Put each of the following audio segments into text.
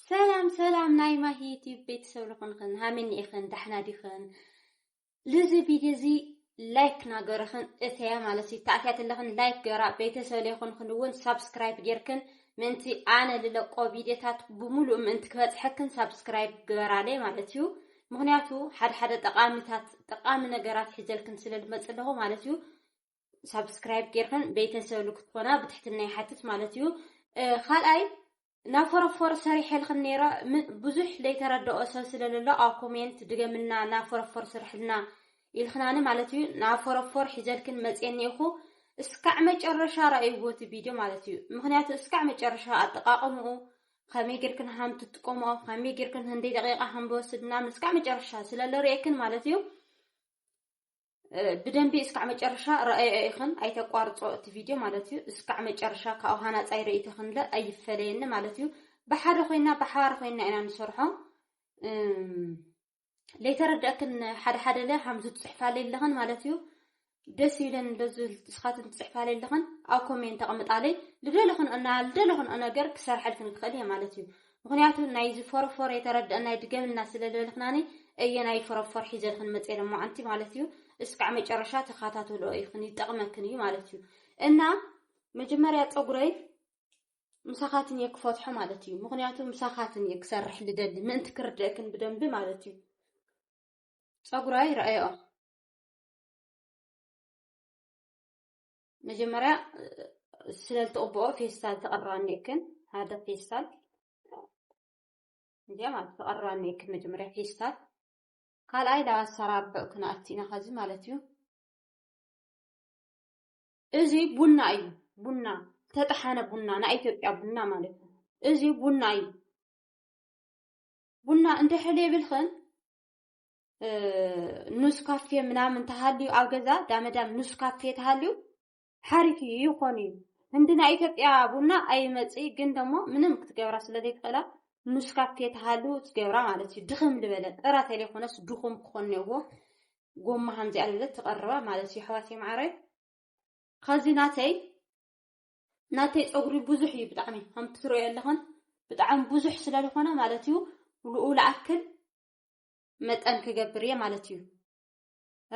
ሰላም ሰላም ናይ ማሂ ዩቲዩብ ቤተሰብ ልኹንኽን ሃመኒ ኢኽን ዳሕና ዲኽን ልዚ ቪድዮ እዚ ላይክ ናገርኽን እተያ ማለት እዩ ተኣትያት ኣለኽን ላይክ ገራ ቤተሰብ ለይኹንኽን እውን ሳብስክራይብ ጌርክን ምእንቲ ኣነ ልለቆ ቪድዮታት ብምሉእ ምእንቲ ክበፅሐክን ሳብስክራይብ ግበራለይ ማለት እዩ ምክንያቱ ሓደ ሓደ ጠቃሚታት ጠቃሚ ነገራት ሒዘልክን ስለ ልመፅ ኣለኹ ማለት እዩ ሳብስክራይብ ጌርክን ቤተሰብ ንክትኾና ብትሕትና ይሓትት ማለት እዩ ካልኣይ ናብ ፎረፎር ሰሪሐልክን ነይረ ብዙሕ ዘይተረድኦ ሰብ ስለለሎ ኣብ ኮሜንት ድገምና ናብ ፎረፎር ስርሕልና ኢልክናኒ ማለት እዩ ናብ ፎረፎር ሒዘልክን መፅየኒ ኢኹ እስካዕ መጨረሻ ራእይዎ እቲ ቪድዮ ማለት እዩ ምክንያቱ እስካዕ መጨረሻ ኣጠቃቅምኡ ከመይ ጌርክን ሃም ትጥቀምኦ ከመይ ጌርክን ህንደይ ደቂቃ ሃም ዝወስድ ምናምን እስካዕ መጨረሻ ስለለርእየክን ማለት እዩ ብደንቢ እስካዕ መጨረሻ ረኣዮ ኢኽን ኣይተቋርጾ እቲ ቪድዮ ማለት እዩ። እስካዕ መጨረሻ ካብኡ ሃናጻይ ርእይቶ ክንለ ኣይፈለየኒ ማለት እዩ። ብሓደ ኮይና ብሓባር ኮይና ኢና ንሰርሖ ለይተረድአክን ሓደ ሓደ ለ ሃምዚ ትጽሕፋለይ ኣለኽን ማለት እዩ። ደስ ይብለን እንደዚ ንስኻትን ትጽሕፋለይ ኣለኽን ኣብ ኮሜንት ተቐምጣለይ ልደለኽን እና ልደለኽን ነገር ክሰርሐልክን ክኽእል እየ ማለት እዩ። ምክንያቱ ናይዚ ፎሮፎር የተረደእናይ ድገምልና ስለልበልክናኒ እየ ናይ ፎሮፎር ሒዘልክን መፅየ ለማዓንቲ ማለት እዩ እስካዕ መጨረሻ ተካታተልኦ ኢክን ይጠቅመክን እዩ ማለት እዩ እና መጀመርያ ፀጉረይ ምሳኻትን እየ ክፈትሖ ማለት እዩ ምክንያቱ ምሳኻትን እየ ክሰርሕ ልደሊ ምእንቲ ክርድእክን ብደንቢ ማለት እዩ ፀጉራይ ረኣዮ መጀመርያ ስለልትቕብኦ ፌስታል ተቐርባ እኒክን ሓደ ፌስታል እዚኣ ማለት ተቐርባ እኒክን መጀመርያ ፌስታል ካልኣይ ናብ ኣሰራርሑ ክንኣቲ ኢና ከዚ ማለት እዩ እዚ ቡና እዩ ቡና ዝተጠሓነ ቡና ናይ ኢትዮጵያ ቡና ማለት እዩ እዚ ቡና እዩ ቡና እንድሕል የብልክን ኑስ ካፌ ምናምን ተሃልዩ ኣብ ገዛ ዳመዳም ኑስ ካፌ ተሃልዩ ሓሪፍ እዩ ይኾን እዩ እንዲ ናይ ኢትዮጵያ ቡና ኣይመፅእ ግን ደሞ ምንም ክትገብራ ስለ ዘይትኽእላ ኑስ ካፌ ተሃሉ ትገብራ ማለት እዩ ድኽም ልበለ ጥራ ተለይኮነስ ድኹም ክኾን ነዎ ጎማ ከምዚኣ ልበለ ትቐርባ ማለት እዩ ኣሕዋት የማዓረይ ከዚ ናተይ ናተይ ፀጉሪ ብዙሕ እዩ ብጣዕሚ ከምቲ ትሪኦ ኣለኹን ብጣዕሚ ብዙሕ ስለ ዝኾነ ማለት እዩ ልኡ ልኣክል መጠን ክገብር እየ ማለት እዩ።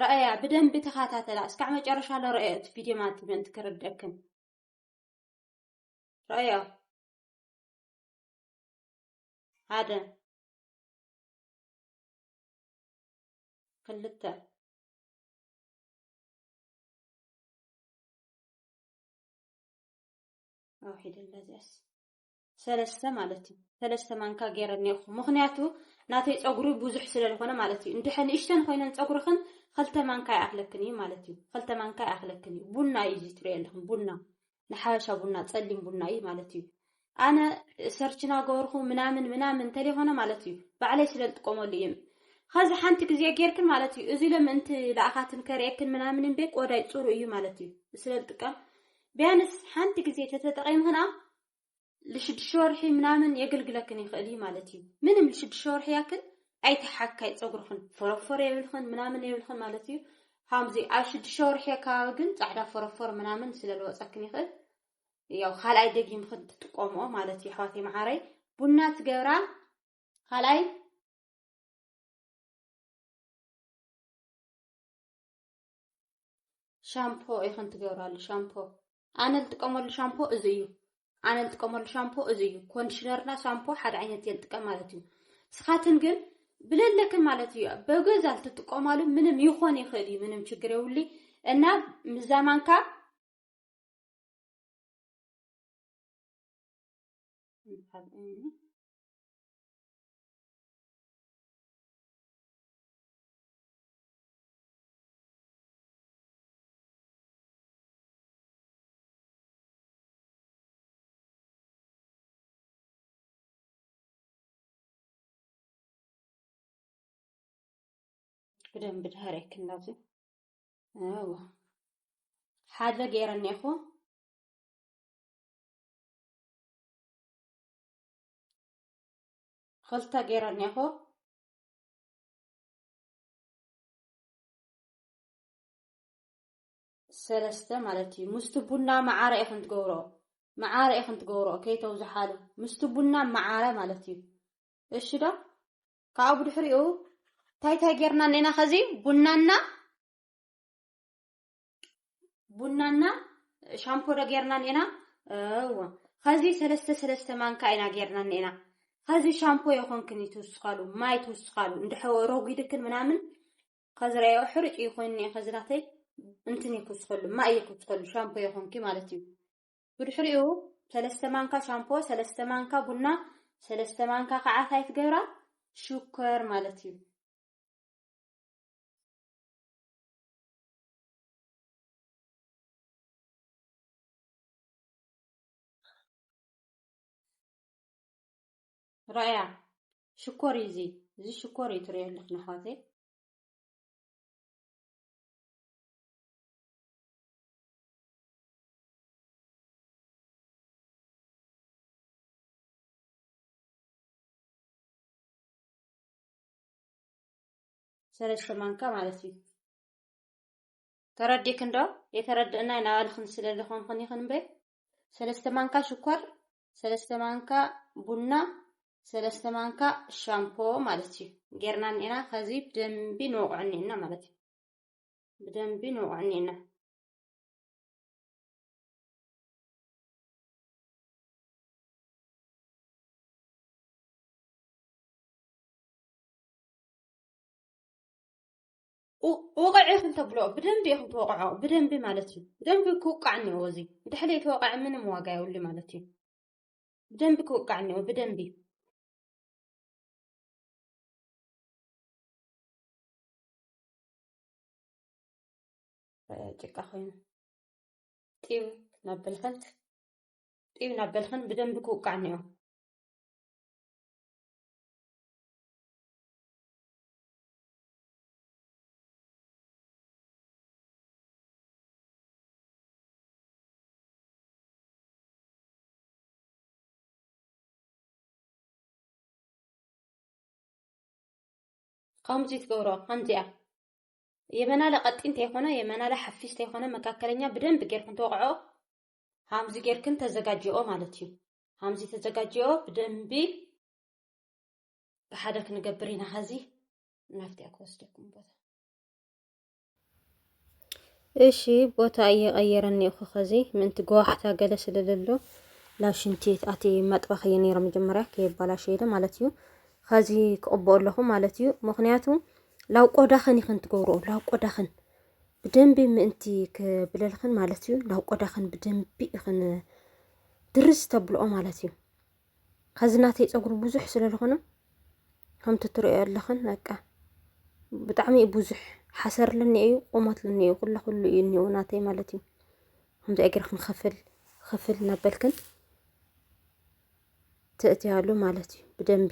ረኣያ ብደንቢ ተኸታተላ እስካዕ መጨረሻ ለረአዮ እቲ ቪድዮ ማለት ምእንቲ ክርደክም ረኣያ ሓደ ክልተ ኣውሒደላ እዚኣስ ሰለስተ ማለት እዩ ሰለስተ ማንካ ገይረ እኒኦኹ ምክንያቱ ናተይ ፀጉሪ ብዙሕ ስለ ዝኾነ ማለት እዩ እንድሐ ንእሽተን ኮይነን ፀጉርኽን ክልተ ማንካ ይኣኽለክን እዩ ማለት እዩ ክልተ ማንካ ይኣኽለክን እዩ ቡና እዩ እዚ ትሪኦ ኣለኹም ቡና ንሓበሻ ቡና ፀሊም ቡና እዩ ማለት እዩ ኣነ ሰርችና ገበርኹ ምናምን ምናምን እንተለይኮነ ማለት እዩ ባዕለይ ስለ ዝጥቀመሉ እዩ ከዚ ሓንቲ ግዜ ጌርክን ማለት እዩ እዚ ለምእንቲ ለኣኻትን ከርእየክን ምናምን እምበይ ቆዳይ ፅሩ እዩ ማለት እዩ ስለ ዝጥቀም ቢያንስ ሓንቲ ግዜ ተተጠቂምክና ልሽዱሽተ ወርሒ ምናምን የገልግለክን ይኽእል እዩ ማለት እዩ። ምንም ልሽዱሽተ ወርሒ ያክል ኣይተሓካይ ፀጉርኽን ፎረፎር የብልኽን ምናምን የብልኽን ማለት እዩ። ከምዚ ኣብ ሽዱሽተ ወርሒ ኣካባቢ ግን ፃዕዳ ፎረፎር ምናምን ስለ ዝወፀክን ይኽእል ያው ካልኣይ ደጊምኽን ትጥቀምኦ ማለት እዩ። ኣሕዋተይ መዓረይ ቡና ትገብራ ካልኣይ ሻምፖ ኢኽን ትገብራሉ ሻምፖ ኣነ ዝጥቀመሉ ሻምፖ እዚ እዩ ኣነ ዝጥቀመሉ ሻምፖ እዚ እዩ ኮንዲሽነርና ሻምፖ ሓደ ዓይነት እየ ዝጥቀም ማለት እዩ ስኻትን ግን ብለለክን ማለት እዩ በገዛ ልትጥቀማሉ ምንም ይኾን ይኽእል እዩ ምንም ችግር የውሊ እና ምዛማንካ ብደንብ ድሃር የክንዳዚ ኣዎ ሓደ ገይረ እኔኹ ክልተ ገይረ እኔኹ ሰለስተ ማለት እዩ ምስቲ ቡና መዓረ ኢኽን ትገብሮ መዓረ ኢኽን ትገብሮ ከይተውዝሓሉ ምስቲ ቡና መዓረ ማለት እዩ እሺ ዶ ካብኡ ብድሕሪኡ እንታይ እንታይ ጌርና እኔና ከዚ ቡናና ቡናና ሻምፖ ዶ ጌርና ኔና እወ ከዚ ሰለስተ ሰለስተ ማንካ ኢና ጌርና ኔና ከዚ ሻምፖ የኾንክን ትውስኻሉ ማይ ትውስኻሉ እንድሐ ሮጊድክን ምናምን ከዚ ረዮ ሕርጭ ይኮን ኔ ከዚ ናተይ እንትን ይኩስኸሉ ማይ ይኩስኸሉ ሻምፖ የኾንኪ ማለት እዩ ብድሕሪኡ ሰለስተ ማንካ ሻምፖ ሰለስተ ማንካ ቡና ሰለስተ ማንካ ከዓ ታይ ትገብራ ሽኮር ማለት እዩ ራእያ ሽኮር እዩ እዚ እዚ ሽኮር እዩ ትሪኦ ኣለኽን ኣሕዋተይ ሰለስተ ማንካ ማለት እዩ ተረዲክን ዶ የተረድእናይ ናባልኽን ስለ ዝኾንኽን ኢኽን እምበይ ሰለስተ ማንካ ሽኮር ሰለስተ ማንካ ቡና ሰለስተ ማንካ ሻምፖ ማለት እዩ ጌርና እኒኤና ከዚ ብደንቢ ንወቕዑ እኒኤና ማለት እዩ ብደንቢ ንወቕዑ እኒኤና ውቕዕ ኢኹም ተብሎ ብደንቢ ኢኹም ተወቕዖ ብደንቢ ማለት እዩ ብደንቢ ክውቃዕ እኒኦ እዚ ድሕሪ ተወቕዐ ምንም ዋጋ የብሉ ማለት እዩ ብደንቢ ክውቃዕ እኒኦ ብደንቢ ጭቃ ኮይኑ ጢው ናብ በልኸንት ጢው ናብ በልኸን ብደንቢ ክውቃዕ እኒኦ ከምዚ ትገብሮ ከምዚያ የመናለ ቀጢን ተይኮነ የመናለ ሓፊስ ተይኮነ መካከለኛ ብደንብ ጌርክን ተወቕዖ ሃምዚ ጌርክን ተዘጋጅኦ ማለት እዩ ሃምዚ ተዘጋጅኦ ብደንቢ ብሓደ ክንገብር ኢና ኸዚ ናፍቲ እያ ክወስደኩም ቦታ እሺ ቦታ እየቀየረ እኒኦ ከዚ ምንቲ ገዋሕታ ገለ ስለለሎ ናብ ሽንቲ ኣቲ መጥባኽ እየ ነይረ መጀመርያ ከየባላሸ ኢለ ማለት እዩ ከዚ ክቕብኦ ኣለኹ ማለት እዩ ምክንያቱ ላብ ቆዳኽን ይኽን ትገብርኦ ላብ ቆዳኽን ብደንቢ ምእንቲ ክብለልኽን ማለት እዩ ላብ ቆዳኽን ብደንቢ ይኽን ድርስ ተብልኦ ማለት እዩ ከዚ ናተይ ፀጉሪ ብዙሕ ስለ ዝኾነ ከምቲ ትርእዮ ኣለኽን በቃ ብጣዕሚ እዩ ብዙሕ ሓሰር ልኒ እዩ ቁመት ልኒ እዩ ኩለ ኩሉ እዩ እኒኦ ናተይ ማለት እዩ ከምዚ እግርኽን ኽፍል ኽፍል እናበልክን ትእትያሉ ማለት እዩ ብደንቢ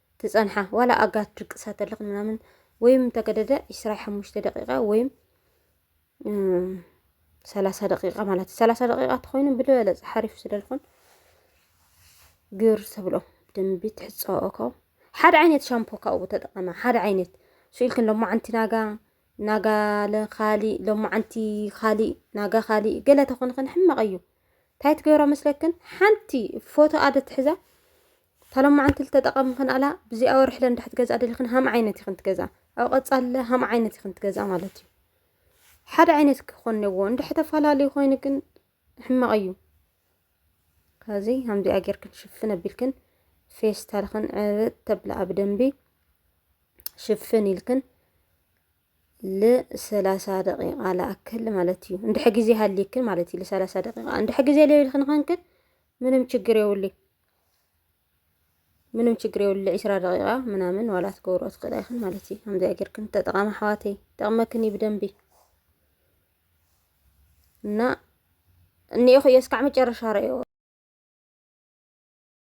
ትጸንሓ ዋላ ኣጋ ትድቅሳ ተለክ ምናምን ወይም እንተገደደ ዕስራ ሓሙሽተ ደቂቃ ወይም ሰላሳ ደቂቃ ማለት እዩ ሰላሳ ደቂቃ ተኮይኑ ብልበለፅ ሓሪፍ ስለልኮን ግር ተብሎ ብደንቢ ትሕፀኦኮ ሓደ ዓይነት ሻምፖ ካብኡ ተጠቐመ ሓደ ዓይነት ስኢልክን ሎማዓንቲ ናጋ ናጋ ለካሊእ ሎማዓንቲ ካሊእ ናጋ ካሊእ ገለ ተኾንኽን ሕማቕ እዩ እንታይ ትገብራ መስለክን ሓንቲ ፎቶ ኣደ ትሕዛ እታ ሎማዓንቲ ልተጠቐሚ ክንኣላ ብዚኣ ወርሒ ለንዳሕት ገዛ ደልኽን ሃም ዓይነት ይኽን ትገዛ ኣብ ቐጻለ ሃም ዓይነት ይኽን ትገዛ ማለት እዩ ሓደ ዓይነት ክኾን ነዎ እንድሕ ተፈላለዩ ኮይኑ ግን ሕማቕ እዩ ከዚ ሃምዚኣ ጌርክን ሽፍን ኣቢልክን ፌስታልኽን ዕብጥ ተብላ ኣብ ደንቢ ሽፍን ኢልክን ልሰላሳ ደቂቃ ላኣክል ማለት እዩ እንድሕ ግዜ ሃሊክን ማለት እዩ ልሰላሳ ደቂቃ እንድሕ ግዜ ለይልክን ኸንክን ምንም ችግር የውልይ ምንም ችግር የብሉ ዒስራ ደቂቃ ምናምን ዋላ ትገብሮ ትኽእላ ኢኽን ማለት እዩ። ከምዚኣ ጌርክን ተጠቓሚ ኣሕዋተይ ጠቕመክን እዩ ብደንቢ እና እኒኦ ክዮ እስካዕ መጨረሻ ረእዮ